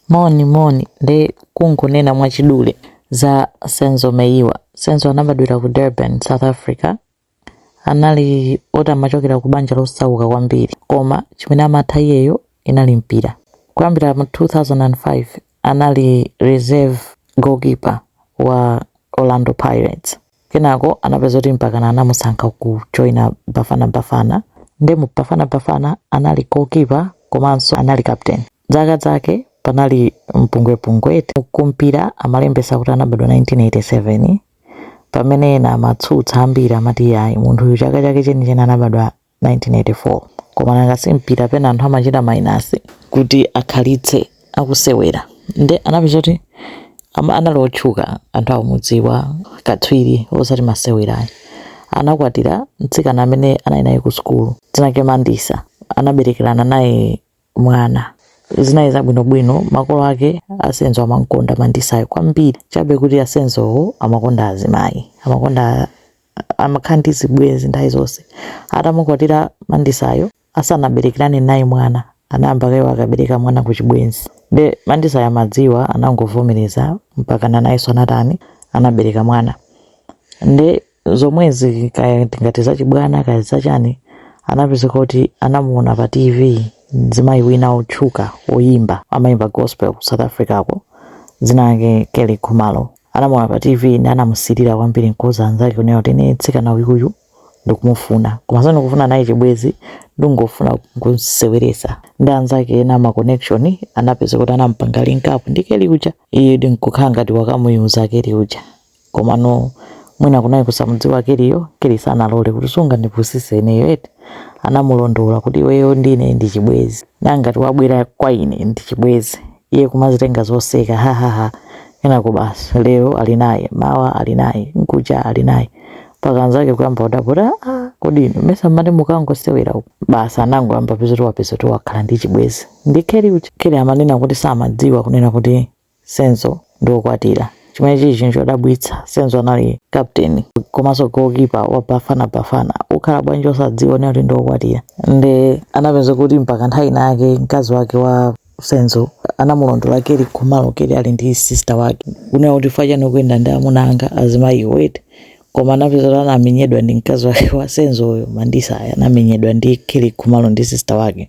Moni moni nde kungonena mwachidule za Senzo Meyiwa. Senzo anabadwira ku Durban, South Africa. Anali oti amachokera ku banja losauka kwambiri koma chimene amatha iyeyo inali mpira. Kuyambira mu 2005 anali reserve goalkeeper wa Orlando Pirates. Kenako anapezeka kuti mpakana anamusankha ku joina Bafana Bafana nde mu Bafana Bafana anali goalkeeper komanso anali captain. Zaka zake panali mpungwepungwe eti kumpira amalembesa kuti anabadwa 1987 pamene ena amatsutsa ambiri amati iyayi munthuyu chaka chake chenicheni anabadwa 1984 koma nanga si mpira pena anthu amachita mainasi kuti akhalitse akusewera nde anapezeka kuti ama- anali otchuka anthu akumudziwa katswiri osati masewerayo anakwatira mtsikana amene anali naye ku sukulu dzina lake mandisa anaberekerana naye mwana. Zinali zabwinobwino, makolo ake a Senzo amam'konda Mandisa'yo kwambiri, chabe kuti a Senzo'wo amakonda azimayi. Amakonda amakhala ndi zibwenzi nthawi zonse. Atamukwatira Mandisa'yo, asanaberekerane naye mwana, anayamba kaye akabereka mwana kuchibwenzi. Nde Mandisa'yo amadziwa, anangovomereza, mpakana nayenso anatani, anabereka mwana. Nde. zomwezi kaya ndingati zachibwana kaya zachani anapezeka kuti anamuona pa tv mzimayi wina otchuka oyimba amayimba gospel ku south africa ko dzina lake kelly khumalo anamuona pa tv nde anamusilira kwambiri nkuuza anzake kunena kuti ine mtsikana uyuyu ndikumufuna koma sindikufuna naye chibwezi ndingofuna kumseweretsa nde anzake ena ma connection anapezeka kuti anampanga link up ndi kelly uja iye nde nkukhala ngati wakamuuza kelly uja Komano mwina kunali kusamudziwa Kellyyo, Kelly sanalole kuti sungandipusise ineyo eti? Anamulondola kuti iweyo ndi ine ndi chibwezi. Nanga ngati wabwera kwa ine ndi chibwezi? Iye kumazitenga zoseka, ha ha ha. Kenako basi lero ali naye, mawa ali naye, mkuja ali naye. Mpaka anzake kuyamba kudabwa kuti aa kodi inu mesa mmati mukangosewera uku? Basi anangoyamba kupezeka kuti wakhala ndi chibwezi ndi Kelly uja. Kelly amanena kuti samadziwa kunena kuti Senzo ndi wokwatira, chimene chili chinthu chodabwitsa. Senzo anali kaputeni komanso goalkeeper wa Bafana Bafana. Ukhala bwanji osadziwa kuti ndi wokwatira? Nde anapezeka kuti mpaka nthawi ina yake mkazi wake wa Senzo anamulondola Kelly Khumalo Kelly ali ndi sister wake, kunena kuti chifukwa chani ukuyenda ndi amuna anga azimayiwo eti? koma anapezeka kuti anamenyedwa ndi mkazi wake wa senzo uyo mandisa aya anamenyedwa ndi kelly khumalo ndi sister wake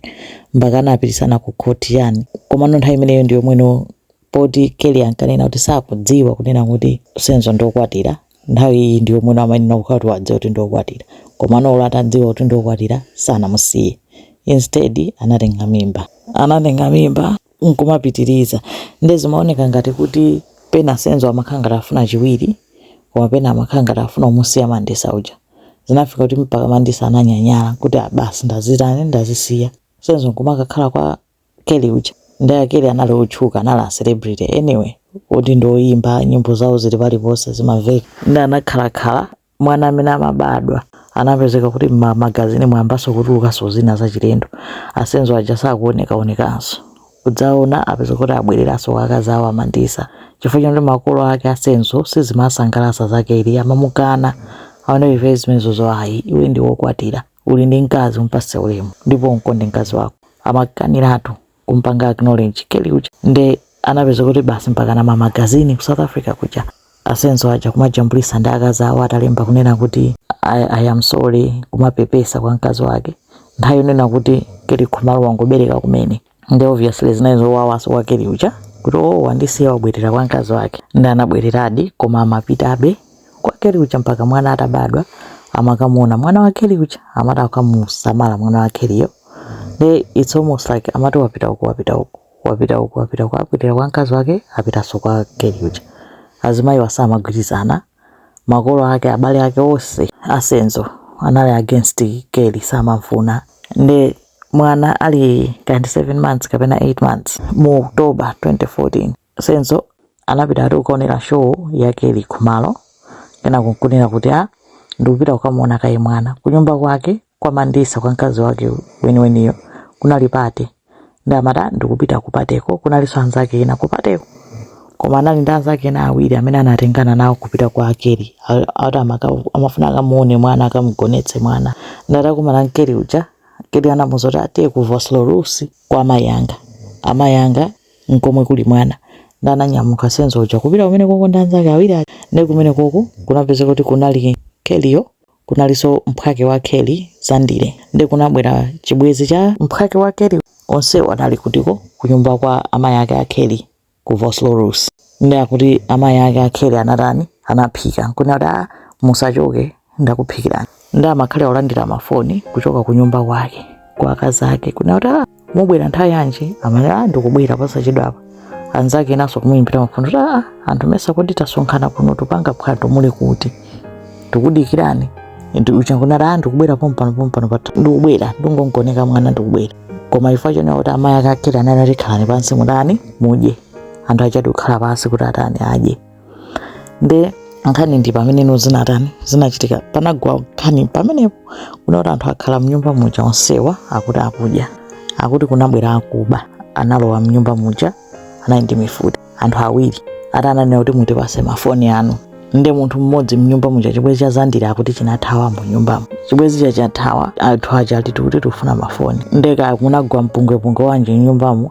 mpaka anapititsana ku khoti chani komano nthawi imeneyo ndiyomwe no poti kelly ankanena kuti sakudziwa kunena kuti senzo ndiokwatira nthawi iyi ndiyomwe no amayenera kukhala kuti wadziwa kuti ndiokwatira komano olo atadziwa kuti ndiokwatira sanamusiye instead anatenga mimba anatenga mimba nkumapitiriza nde zimaoneka ngati kuti pena senzo amakhala ngati afuna chiwiri koma pena amakhala ngati afuna kumusiya mandisa uja zinafika kuti mpaka mandisa ananyanyala kuti ah basi ndazitani ndazisiya senzo nkumakakhala kwa Kelly uja nde a Kelly anali otchuka anali a celebrity anyway oti ndi oyimba nyimbo zawo zili paliponse zimamveka nde anakhalakhala mwana amene amabadwa anapezeka kuti m'mamagazini mwayambaso kutulukaso zina zachilendo a Senzo aja sakuonekaonekanso kudzaona apeza kuti abwereraso kwa akazi awo a Mandisa chifukwa choti makolo ake a Senzo sizimasangalasa za Kelly amamukana ah no ife zimenezo zo ayi iwe ndi wokwatira uli ndi mkazi umpase ulemu ndipo umkonde mkazi wako amakaniratu kumpanga acknowledge Kelly uja nde anapeza kuti basi mpaka m'mamagazini ku south africa kuja a Senzo aja kumajambulisa ndi akazi awo atalemba kunena kuti I am sorry kumapepesa kwa mkazi wake nthawi yonena kuti Kelly Khumalo wangobereka kumene nde obviously zinali zowawaso kwa Kelly uja kuti o oh, wandisiya wabwerera kwa mkazi wake nde anabwereradi koma amapitabe kwa Kelly uja mpaka mwana atabadwa amakamuona mwana wa Kelly uja amati akamusamala mwana wa Kellyyo nde it's almost like amati wapita uku wapita uku wapita uku wapita uku apitira kwa mkazi wake apitanso kwa Kelly uja azimayi awa samagwirizana makolo ake abale ake onse a Senzo anali against Kelly samamfuna nde mwana ali 7 months kapena 8 months mu October 2014 Senzo anapita ati kukaonera show ya Kelly Khumalo kenako nkunena kuti a ndikupita kukamuona kaye mwana kunyumba kwake kwa Mandisa kwa mkazi wake weniweniyo kunali pate ndi amati "Ah, ndikupita kupateko kunalinso anzake ena kupateko koma anali ndi anzake ena awiri amene anatengana nawo kupita kwa a Kelly A- ati amaka- amafuna akamuone mwana akamugonetse mwana nde atakumana ndi Kelly uja Kelly anamuuza kuti ah tiye ku Vosloorus kwa amayi anga amayi anga nkomwe kuli mwana nde ananyamuka Senzo uja kupita kumene koko ndi anzake awiri aja ndi kumene koko kunapezeka kuti kunali Kellyyo kunalinso mphwake wa Kelly Zandile ndi kunabwera chibwenzi cha mphwake wa Kelly onsewo anali kutiko kunyumba kwa amayi ake a Kelly ku Vosloorus ndi akuti amayi ake a Kelly anatani anaphika kunena kuti ah musachoke ndakuphikirani ndi amakhala akulandira mafoni kuchoka ku nyumba kwake kwa akazi ake kunena kuti "Ah, mubwera nthawi yanji amanena "Ah, ndikubwera posachedwapa anzake enanso kumuyimbira mafoni kuti "Ah, anthu mesa kodi tasonkhana kuno tupanga phwando muli kuti tikudikirani uja nkunena "Ah, ndikubwera pompano pompano ndikubwera ndingogoneka mwana ndikubwera koma chifukwa chonena kuti amayi ake a Kelly anali ah khalani pansi mutani mudye anthu aja ati kukhala pansi kuti atani adye nde nkhani ndi pameneno zinatani zinachitika panagwa nkhani pamenepo kuti anthu akhala mnyumba muja onsewa akuti akudya akuti kunabwera akuba analowa mnyumba muja anali ndi mifuti anthu awiri ati ananena kuti mutipase mafoni anu nde munthu mmodzi mnyumba muja chibwezi cha zandile akuti chinathawa mu nyumbamo chibwezi chathawa anthu aja ati tikuti tikufuna mafoni nde kuti kunagwa mpungwepungwe chabe mnyumbamo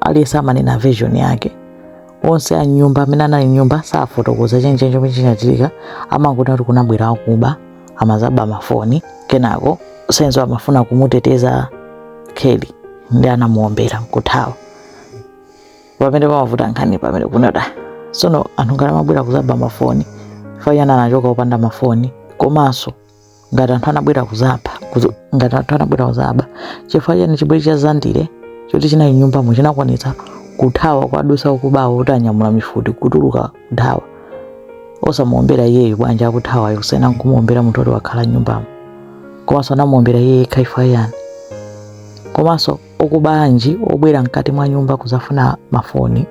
aliyense amanena version yake onse a nyumba amene anali nyumba safotokoza chenicheni chomwe chinachitika amangoti kuti kunabwera akuba amazaba mafoni kenako senzo amafuna kumuteteza kelly ndi anamuombera nkuthawa pamene pamavuta nkhani pamene kunali sono anthu ngati amabwera kuzaba mafoni chifukwa chani anachoka opanda mafoni komanso ngati anthu anabwera kuzaba kuza- ngati anthu anabwera kuzaba chifukwa chani chibwezi cha zandile choti chinali nyumbamo chinakwanitsa kuthawa kuwadutsa akubawo oti anyamula mifuti kutuluka kuthawa osamuombera iyeyo bwanji akuthawayo kusiyana nkumuombera munthu oti wakhala nyumbamo komanso anamuombera iye yekha chifukwa chani komanso akuba anji obwera mkati mwa nyumba kuzafuna mafoni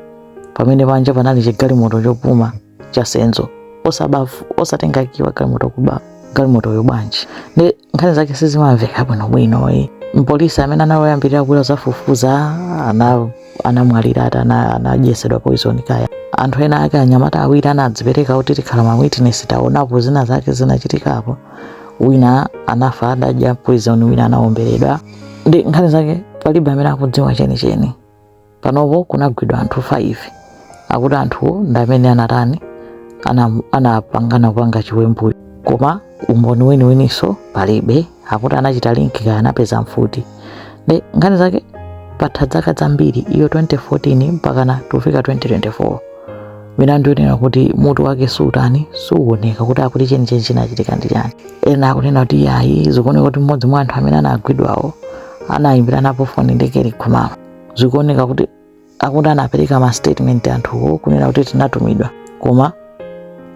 pamene panja panali chigalimoto chopuma cha senzo osaba osatenga kiyi wa galimoto kuba galimotoyo bwanji ndi nkhani zake sizimamveka bwinobwino e mpolisi amene anayambirira kubwera kuzafufuza ana anamwalira ati ana- anadyetsedwa poison kaya anthu ena ake anyamata awiri anadzipereka kuti tikhala ma witness taonapo zina zake zinachitikapo wina anafa adadya poison wina anaomberedwa ndi nkhani zake palibe amene akudziwa chenicheni panopo kunagwidwa anthu 5 akuti anthuwo ndi amene anatani ana- anapangana kupanga chiwembuyo koma umboni weniweninso palibe akuti anachita link kaya anapeza mfuti ndi nkhani zake patha zaka zambiri iyo 2014 mpakana kufika 2024 milandu yonena kuti mutu wake sutani suwoneka kuti akuti chenicheni chinachitika ndi chani ena akunena kuti ayi zikuoneka kuti mmodzi mwa anthu amene anagwidwawo anayimbiranapo foni ndi kelly khumalo zikuoneka kuti akuti anapereka ma statement anthuwo kunena kuti tinatumidwa koma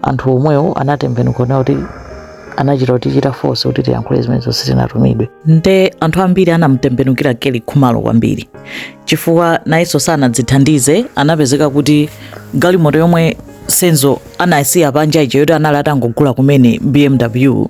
anthu omwewo anatembenuka kunena kuti anachita kutichita force kuti tiyankhule zimenezo sitinatumidwe tinatumidwe nde anthu ambiri anamtembenukira kelly khumalo kwambiri chifukwa nayenso sanadzithandize anapezeka kuti galimoto yomwe senzo anasiya panja ija yoti anali atangogula kumene bmw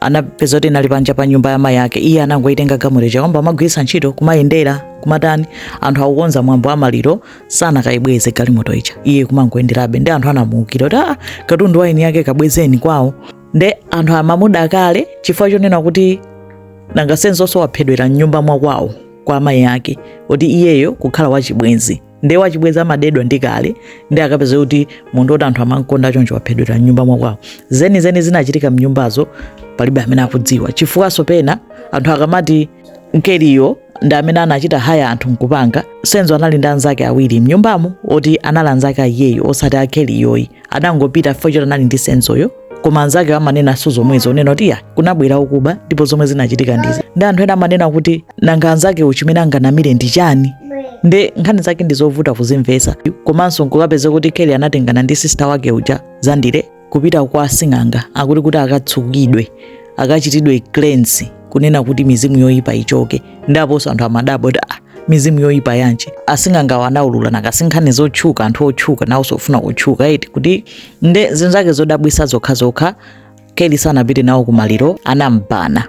anapeza kuti inali panja pa nyumba ya mayi ake iye anangoyitenga galimoto ija kuyamba kumagwiritsa ntchito kumayendera kumatani anthu akukonza mwambo wa maliro sanakayibweze galimoto ija iye kumangoyenderabe ndi anthu anamuukira kuti aa katundu wa eni yake kabwezeni kwawo nde anthu amamuda kale chifukwa chonena kuti nanga senzo waphedwera mnyumba mwakwawo kwa amayi ake kuti iyeyo kukhala wachibwenzi nde wachibwenzi amadedwa ndi kale ndi akapeza kuti munthu oti anthu amamkonda choncho waphedwera mnyumba mwakwawo zenizeni zinachitika mnyumbazo palibe amene akudziwa chifukwanso pena anthu akamati ndi Kellyyo ndi amene anachita haya anthu nkupanga Senzo anali ndi anzake awiri mnyumbamo oti anali anzake a iyeyo osati a Kellyyo ayi adangopita chifukwa choti anali ndi Senzoyo koma anzakewo amanenanso zomwezo kunena kuti ya kunabwera okuba ndipo zomwe zinachitika ndizi ndi anthu ena amanena kuti nanga anzakewo chimene anganamire ndi chani nde nkhani zake ndi zovuta kuzimvetsa komanso nkukapeza kuti Kelly anatengana ndi sista wake uja Zandile kupita kwa asing'anga akuti kuti akatsukidwe akachitidwe cleanse kunena kuti mizimu yoyipa ichoke nde aponso anthu amadabwa kuti ah, mizimu yoyipa yanji asing'angawo anaulula nanga si nkhani zotchuka anthu otchuka nawonso ofuna kutchuka eti kuti nde zinthu zake zodabwisa zokhazokha Kelly sanapite nawo kumaliro anambana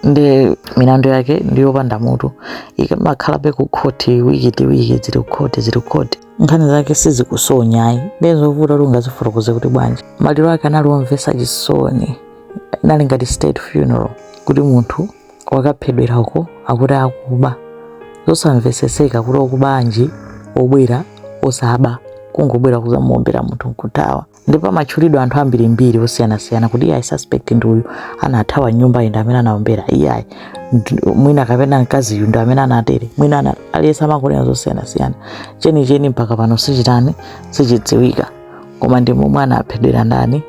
nde milandu yake ndiyopanda mutu ikamakhalabe ku khoti wiki ndi wiki zili kukhoti zili kukhoti nkhani zake sizikusonya ayi nde zovuta kuti ungazifotokoze kuti bwanji maliro ake anali omvesa chisoni inali ngati state funeral kuti munthu wakaphedwera uko akuti akuba zosamveseseka kuti okuba anji obwera osaba kungobwera kuzamuombera munthu nkuthawa ndipo amatchulidwa anthu ambirimbiri osiyanasiyana kuti iyayi suspect ndi uyu anathawa nyumbayi ndi amene anaombera iyayi mwina kapena mkaziyu ndi amene anatere mwina aliyense amangonena zosiyanasiyana chenicheni mpaka pano sichitani sichidziwika koma ndi momwe anaphedwera ndani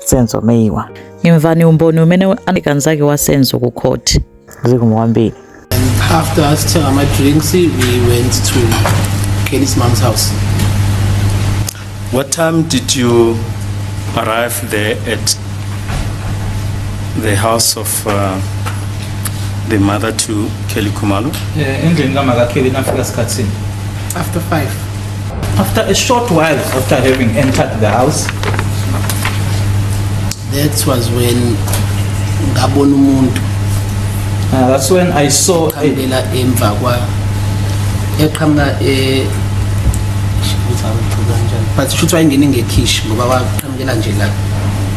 Senzo Meyiwa imvani umboni umene anaika nzake wa Senzo ku khoti zikomo kwambiri After us telling my drinks, we went to Kelly's mom's house. What time did you arrive there at the house of uh, the mother to Kelly Khumalo? endlini kama kaKelly nafika sikhathi sini After five. After a short while after having entered the house, that was when ngabona umuntu uh, that's when I saw a, eqhamukela emva kwa eqhamuka eh ngizawuqhubeka kanjani but futhi wayengene ngekhishi ngoba waqhamukela nje la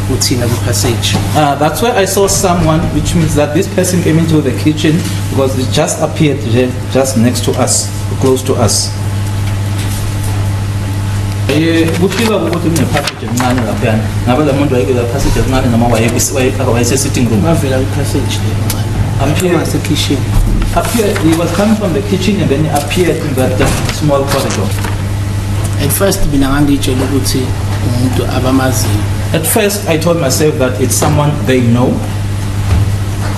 kuthina kwi-passage uh, that's where I saw someone which means that this person came into the kitchen because it just appeared ju- just next to us. close to us Eh, kufika ukuthi kunephasage encane laphayana ngabe la muntu wayekela phasage encane noma wayekwi- wayefaka wayese-sitting room bavela kwiphasage le Appear- asekhishini appeared he was coming from the kitchen and then he appeared in that uh, small corridor at first mina ngangiyitshela ukuthi umuntu abamaziyo at first i told myself that it's someone they know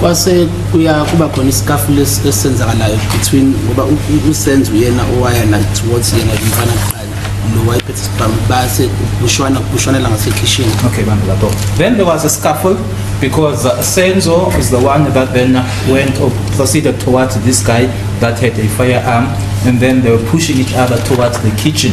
kwase kuya kuba khona isikafu lesenzakalayo between ngoba usenzo uyena owaya na towards yena umfana kuqala lo wayephethe isibhamu base kushwana kushwanela ngasekhishini okay bantu lapho then there was a scuffle because uh, Senzo is the one that then went or proceeded towards this guy that had a firearm and then they were pushing each other towards the kitchen